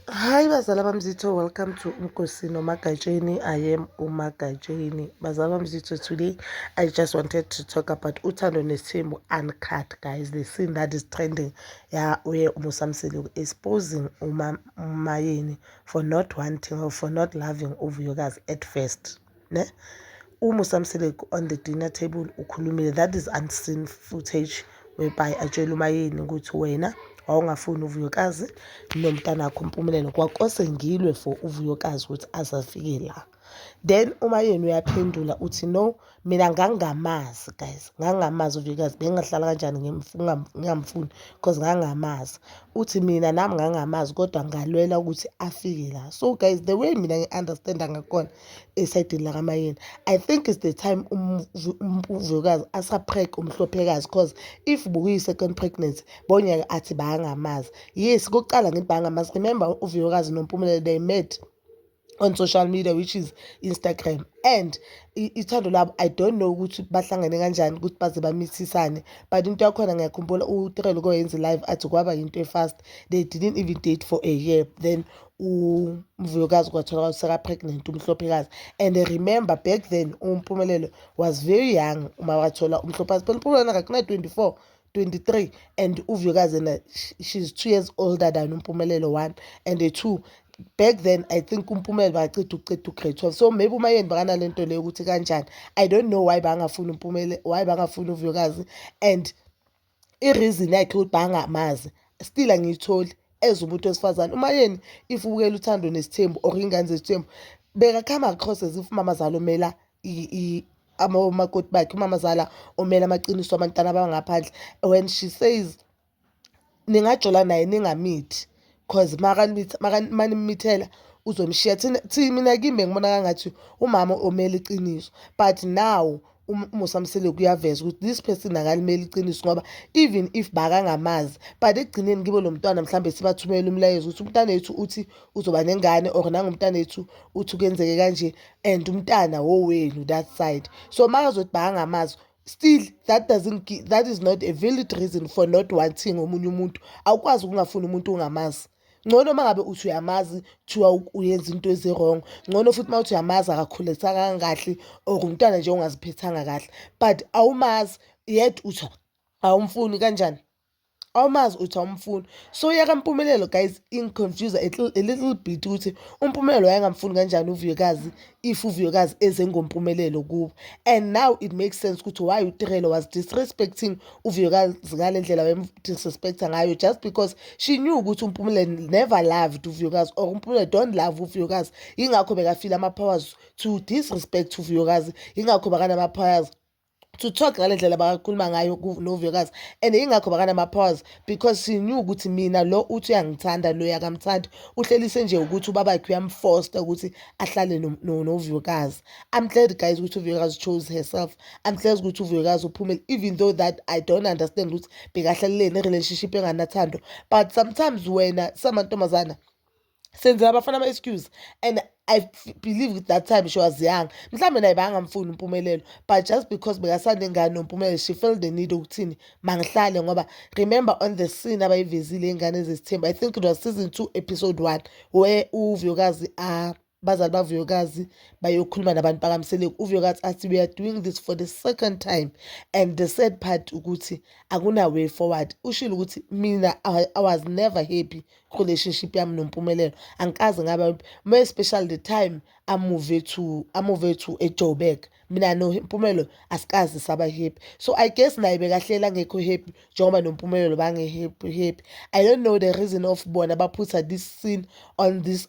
Hi bazala bamzitho, welcome to Mkosi Nomagatsheni. I am Umagatsheni. Bazala bamzitho, today I just wanted to talk about Uthando Nesimo uncut guys. The scene that is trending yeah, where Musa Mseleku exposing Uma Mayeni for not wanting or for not loving Uvuyokazi at first. ne uma usamseleki on the dinner table ukhulumile that is unseen footage whereby atshela umayeni ukuthi wena wawungafuni uvuyokazi nomntanakho umpumelelo kwakose ngilwe for uvuyokazi ukuthi azafike la then uma yena uyaphendula uthi no mina ngangingamazi guys ngangingamazi uvuyokazi bengingahlala kanjani ngingamfuni because ngangingamazi uthi mina nami ngangamazi kodwa ngalwela ukuthi afike la so guys the way mina ngi-understanda ngakhona esayidini lakamayeni i think is the time umvukazi asapreg umhlophekazi cause if bukuyi-second pregnancy bonyeke athi bayangamazi yes kokuqala ngithi bayangamazi remember uvuyokazi nompumelelo they met on social media which is Instagram and ithando labo I don't know ukuthi bahlangane kanjani ukuthi baze bamithisane but into yakhona ngiyakhumbula uTrell uke yenze live athi kwaba yinto efast they didn't even date for a year then umvuyokazi kwathola ukuthi seka-pregnant umhlophekazi and remember back then umpumelelo was very young uma wathola umhlophazi phela umpumelelo akakunay-twenty-four 23 and uVuyokazi and she's 2 years older than uMpumelelo 1 and 2 back then i think umpumela baceda ukuceda ugrade 12 so maybe umayeni bakanalento leyo ukuthi kanjani i don't know why bangafuni umpumele why bangafuni uvuyokazi and ireason yakhe ukuthi bangamazi still angiyitholi as umuntu wesifazane umayeni if ubukela uthando nesithembu or ingane zesithembu bekakhama across as if mama zalo mela omakoti bakhe umamazala omele amaqiniso abantwana abangaphandle when she says ningajola naye ningamithi cause manimithela uzomshiya. Thina mina kimi bengibona kwangathi umama omele iqiniso but now umusa Mseleku uyaveza ukuthi this person akalimeli iqiniso ngoba even if bakangamazi but ekugcineni kibo lo mntwana mhlawumbe sibathumelela umlayezo ukuthi umntanethu uthi uzoba nengane or nangumntanethu uthi kuyenzeke kanje and umntana wowenu that side so makazothi bakangamazi still that doesn't give, that is not a valid reason for not wanting omunye umuntu awukwazi ukungafuni umuntu ungamazi ngcono uma ngabe uthi uyamazi kuthiwa uyenza into ezi-wrong ngcono futhi uma uthi uyamazi akakhulisakanga kahle or umntwana nje ongaziphethanga kahle but awumazi yet uthi awumfuni kanjani awumazi uthi awumfuni so yeka mpumelelo guys ingiconfuse a little bit ukuthi umpumelelo wayengamfuni kanjani uvuyekazi if uvuyekazi eze ngompumelelo kubo and now it makes sense ukuthi why utirelo was disrespecting uvuyekazi ngale ndlela wayemdisrespecta ngayo just because she knew ukuthi umpumelelo never loved uvuyekazi or umpumelelo don't love uvuyekazi yingakho bekafile ama-powers to disrespect uvuyekazi yingakho bakanama-powers to talk ngale ndlela bakakhuluma ngayo lo vuyokazi and yingakho bakanama-pause because she knew ukuthi mina lo uthi uyangithanda lo yakamthandi uhlelise nje ukuthi ubabakhe uyamfosta ukuthi ahlale novuyokazi i'm glad guys ukuthi uvuyokazi chose herself i'm glad ukuthi uvuyokazi uphumele even though that i don't understand ukuthi bekahlaleleni i-relationship enganathando but sometimes wena samantombazana senzela abafana ama-excuse and i believe ukuthi that time she was young mhlawumbe naye bangamfuni umpumelelo but just because bekasanengane nompumelelo she felt the need okuthini mangihlale ngoba remember on the scene abayivezile iy'ngane ezizithemba i think it was season two episode one where uvuyokazi a uh, bazali bavuyokazi bayokhuluma nabantu bakamseleku uvuyokazi athi we are doing this for the second time and the sad part ukuthi akuna-way forward ushile ukuthi mina i was never happy relationship yami nompumelelo angikaze ngaba more especially the time amuve to amuve to ejoburg mina nompumelelo asikaze saba happy so i guess naye bekahlela ngekho happy njengoba nompumelelo bange-happy happy i don't know the reason of bona baphutha this scene on this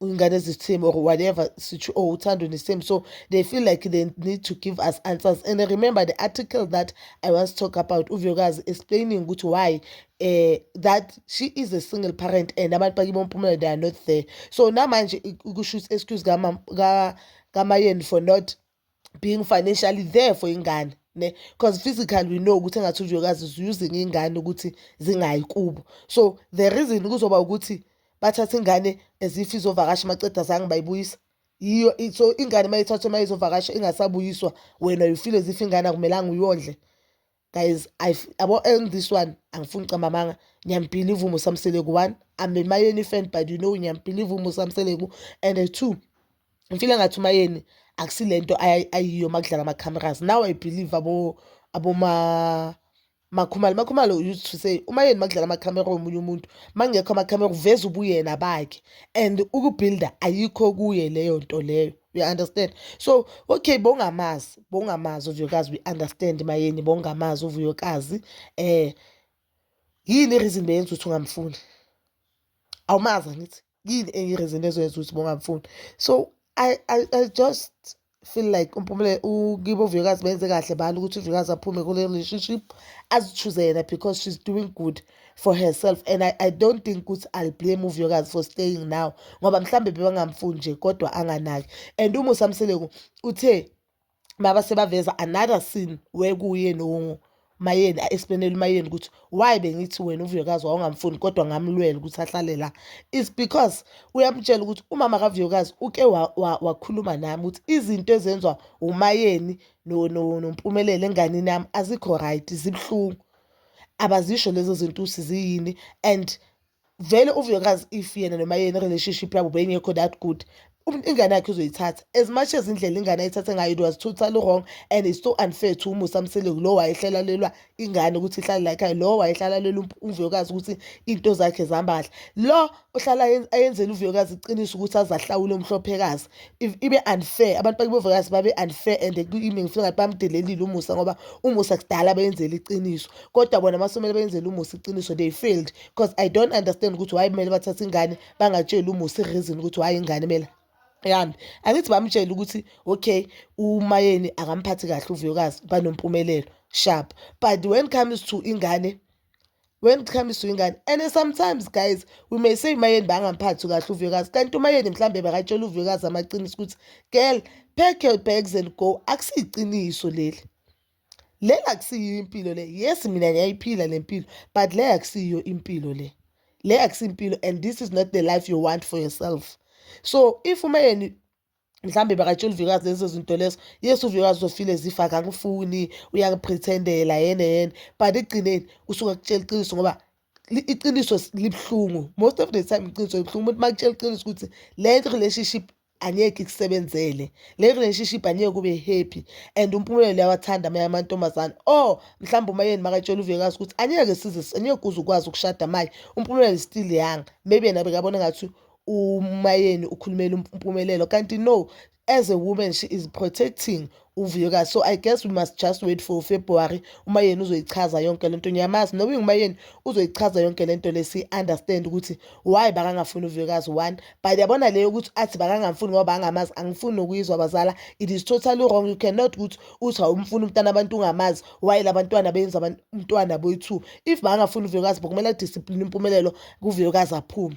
ingane zithim or whatever sithi oh uthando nesame so they feel like they need to give us answers and remember the article that i once talk about uvuyokazi explaining ukuthi why uh, that she is a single parent and abantu bakibo ompumela they are not there so namanje kusho ukuthi excuse kamayeni for not being financially there for ingane ne because physical we know ukuthi engathi ujokazi is using ingane ukuthi zingayi kubo so the reason kuzoba ukuthi bathatha ingane as if izovakasha maceda zange bayibuyisa yiyo so ingane mayithathwe mayizovakasha ingasabuyiswa wena you feel as if ingane akumelanga uyondle guys yabo and this one angifuni camba amanga ngiyambhiliva umusa mseleku one i'm a mayeni fan but you know ngiyambhiliva umusa mseleku and two ngifile ngathi umayeni akusile nto ayiyo uma kudlala ama-cameras now i believe abo aboma makhumalo makhumalo used to say uma yeni makudlala amakhamera omunye umuntu makungekho amakhamera uveza ubuyena bakhe and ukubuilda ayikho kuye leyo nto leyo we understand so okay bongamazi bongamazi uvuyokazi we understand mayeni bongamazi uvuyokazi eh yini reason beyenza ukuthi ungamfuni awumazi angithi yini enye reason ezoyenza ukuthi bongamfuni so I, I, I just feel like umpumule ukibo uvuyokazi benze kahle bani ukuthi uvuyokazi aphume kule relationship azichuze yena because she's doing good for herself and I, I don't think ukuthi I'll blame uvuyokazi for staying now ngoba mhlambe bebangamfuni nje kodwa anganaki and umusa mseleku uthe baba sebaveza another scene wekuye no mayeni a-explainele umayeni ukuthi why bengithi wena uvuyokazi wawungamfuni kodwa ngamlwela ukuthi ahlale la is because uyamtshela ukuthi umama kavuyokazi uke wakhuluma wa, wa nami ukuthi izinto ezenziwa umayeni nompumelelo no, no enganini yami azikho right zibuhlungu abazisho lezo zinto ukuthi ziyini and vele uvuyokazi if yena noma yena relationship yabo beyingekho that good ingane yakhe uzoyithatha as much as indlela ingane ayithathe ngayo it was totally wrong and it's so unfair to umusa mseleku lowo wayehlelalelwa ingane ukuthi ihlale layikhaya lowo wayehlelalelwa umvuyokazi ukuthi iy'nto zakhe zambadla lo ohlala ayenzela uvuyokazi iqiniso ukuthi azahlawule umhlophekazi ibe unfair abantu bakibovuyokazi babe unfair and kimi ngifuna ngathi bamdelelile umusa ngoba umusa kudala beyenzela iqiniso kodwa bona masomele beyenzela umusa iqiniso they failed because i don't understand ukuthi why kumele bathathe ingane bangatsheli umusa ireason ukuthi why ingane mela yami angithi bamtshele ukuthi okay umayeni akamphathi kahle uvuyokazi banompumelelo sharp but when comes to ingane when it comes to ingane and sometimes guys we may say umayeni bangamphathi kahle uvuyokazi kanti umayeni mhlawumbe bakatshela uvuyokazi amaqiniso ukuthi girl pack your bags and go akusiyiqiniso leli leli akusiyiyo impilo le yes mina ngiyayiphila le mpilo but le akusiyiyo impilo le le akusiyimpilo and this is not the life you want for yourself so if umayeni mhlawumbe bakatshela uvikazi lezo zinto lezo yes uvikazi uzofile zifa akakufuni uyakuprethendela yena yena but ekugcineni usuke akutshela iqiniso ngoba iqiniso libuhlungu most of the time iqiniso libuhlungu umuntu uma kutshela iqiniso ukuthi le relationship angeke ikusebenzele le relationship angeke ube happy and umpumelelo yawathanda amanye amantombazane or oh, mhlawumbe uma yeni makatshela uvekazi ukuthi angeke size angeke uze ukwazi ukushada manje umpumelelo still young maybe yena bekabona ngathi umayeni ukhulumela umpumelelo kanti no as a woman she is protecting uvuyokazi so i guess we must just wait for february umayeni uzoyichaza yonke le nto ngiyamazi noba ingumayeni uzoyichaza yonke le nto le si-understand ukuthi why bakangafuni uvuyokazi one but yabona leyo ukuthi athi bakangamfuni ngoba bangamazi angifuni nokuyizwa abazala it is totally wrong you cannot ukuthi uthi awumfuni umntana abantu ungamazi why la bantwana benza umntwana boyi-two if bakangafuni uvuyokazi bokumele adiscipline impumelelo kuvuyokazi aphume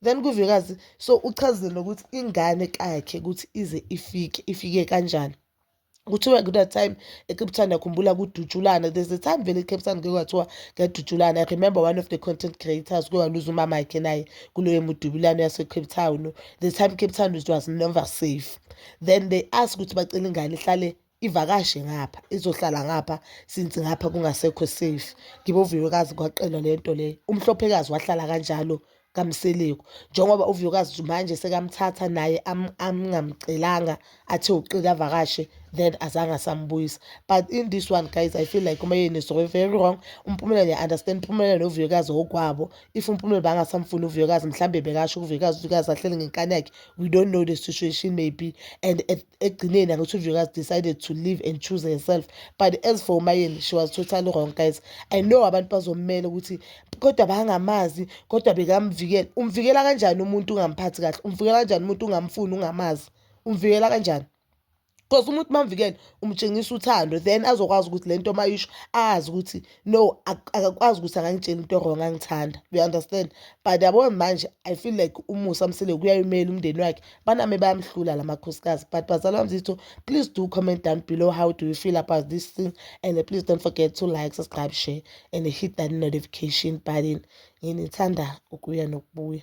Then kuvikazi so uchazele ukuthi ingane kakhe ukuthi ize ifike ifike kanjani kuthiwa kula time ecape town yakhumbula kudutshulana there's a time vele ecape town kuke kwathiwa kuyadutshulana i remember one of the content creators kuke waluza umama yakhe naye kuleyo mudubulano yasecape town the time cape town was never safe then they ask ukuthi bacela ingane ihlale ivakashe ngapha izohlala ngapha since ngapha kungasekho safe ngibe uvuyokazi kwaqelwa le nto le umhlophekazi wahlala kanjalo kamseleku njengoba uvuyokazi manje sekamthatha naye amngamcelanga athe uqile avakashe then azange asambuyisa but in this one guys i feel like umayeni is very wrong umpumela niya-understand umpumela novuyokazi okwabo if umpumela bangasamfuni uvuyokazi mhlawumbe bekasho uvuyokazi uvuyokazi ahlele ngenkani yakhe we don't know the situation maybe and at ekugcineni angithunjwe kazi decided to live and choose herself but as for umayeni she was totally wrong guys i know abantu bazommela ukuthi kodwa bangamazi kodwa bekamvikela umvikela kanjani umuntu ungamphathi kahle umvikela kanjani umuntu ungamfuni ungamazi umvikela kanjani because umuntu mamvikele umtshengisa uthando then azokwazi ukuthi lento mayisho azi ukuthi no akakwazi ukuthi angangitshela into wrong angithanda you understand but yabo manje i feel like umusa msele kuyayimela umndeni wakhe baname bayamhlula la makhosikazi but bazalwa mzitho please do comment down below how do you feel about this thing and please don't forget to like subscribe share and hit that notification button nginithanda ukuya nokubuya